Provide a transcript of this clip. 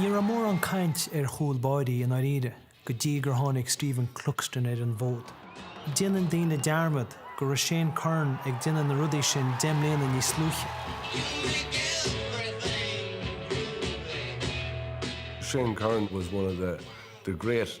Ní raibh mórán caint ar chúl báirí, i ndáiríre, go dtí gur tháinig Stephen Cluxton ar an bhfód. Déanann daoine dearmad go raibh Shane Curran ag déanamh na rudaí sin deich mbliana níos luaithe. Shane Curran was one of the great.